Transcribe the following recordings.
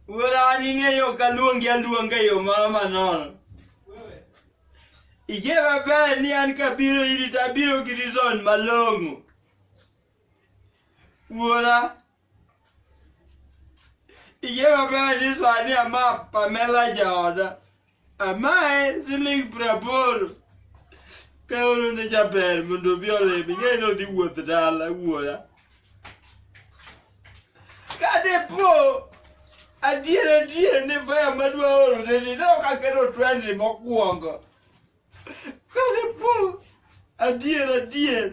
Wuora an ing'eyo kaluongi aluonga e yo moro manono. Ing'e maber ni an kabiro iri to abiro gi reason malong'o. Wuora, ing'e maber ni sani ama Pamela jaoda. Amae siling praboro kaoro ne jaber mondo obi olimi ng'eyo ni odhi wuoth dala wuora kadepo adier adier ni faya madwa orone ni ne ok akero twendi mokwongo Kane po adier adier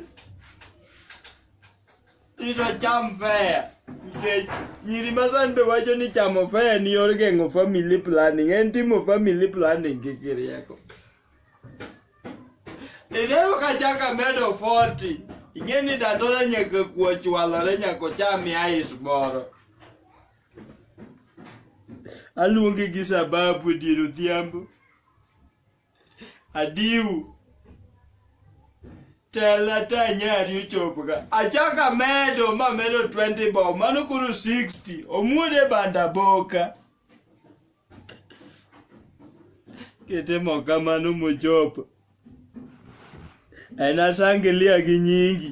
ito cham fea nikech nyiri ma sani be wacho ni chamo fea ni yor geng'o family planning en timo family planning gi kirieko ineno ka chaka medo 40 ing'e ni dandora nyaka kuo chwalore nyaka ocham ice moro aluonge gi sababu e dier odhiambo adiu tela ta nyari ochopga achako amedo mamedo 20 bob mano koro 60 omuode banda boka kitimo kamano mochopo en asangilia gi nyingi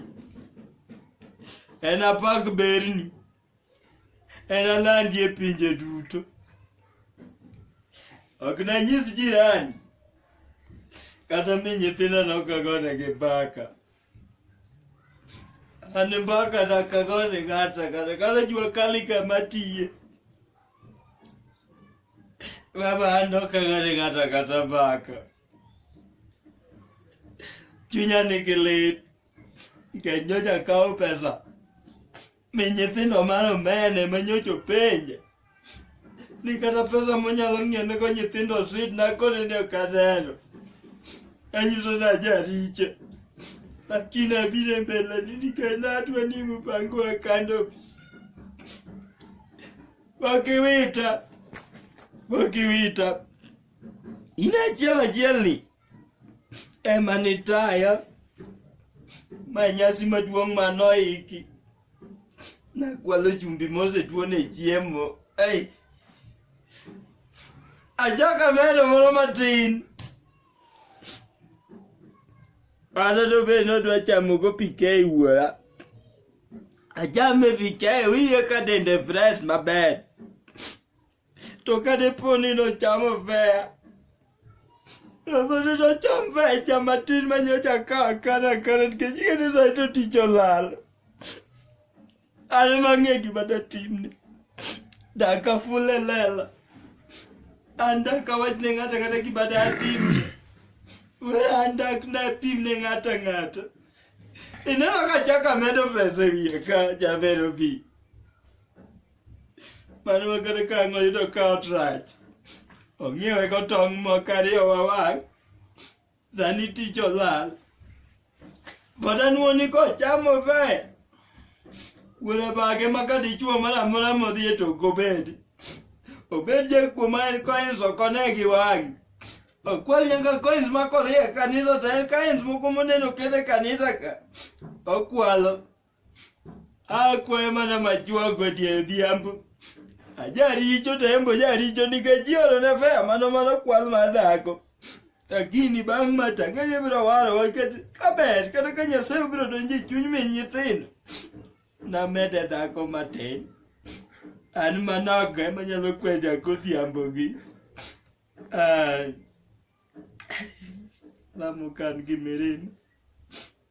en apak berni Enalandi e pinje duto. Ok nanyis jirani. Kata mi nyithinda nokagone gi mbaka. An mbaka nakagone ng'ata kata kata jua kali kama tiye. Baba an nokagone ng'ata kata mbaka. Chunya nigi lit. Nikech nyocha kawo pesa. Mi nyithindo mar omene ma nyocha openja ni kata pesa monyalo ng'iewonego nyithindo swit nakone ni ok aneno. Anyiso ni ajaricho. Lakini abiro e mbeleni nikech natwe ni mpango wa kando. Wakiwita. Wakiwita. In achiel achiel ni ema nitaya ma nyasi maduong' ma noiki nakwalo chumbi mosetuone chiemo ei achaka medo moro matin kata to be nodwa chamogo pikei wuora achame pikei wiye ka dende fresh maber to ka dipo ni nochamo vea Abana na chamba cha matin manyocha ka kana kana kejike ni saito ticho lal. Ale mange gima da timni. Daka fule lela. Anda kawach ne ngata kata gima da timni. Wera anda kna pim ne ngata ngata. Ineno ka chaka medo pesa wiye ka javero bi. mano wakata ka ang'o yudo ka ot rach ong'iewe kotong' moko ariyo wawang' sani tich olal pod anwoni kochamo fe wuora bage ma ka dichwo moro amora modhi e tok obed obed jakuo ma en coins okone gi wang'e okwal nyaka coins ma kodhi e kanisa to en coins moko moneno kete kanisa ka okwalo akwayo mana machuogo tie odhiambo ajaricho to embo jaricho nikech iorone fea mano mano kwal mar dhako lakini bang' ma tang'ani biro warowa nikech kaber kata ka nyasaye obiro donjo e chuny min nyithindo namede dhako matin an manogo ema nyalo kweda godhiambogi Ah, lamo kan gi mirima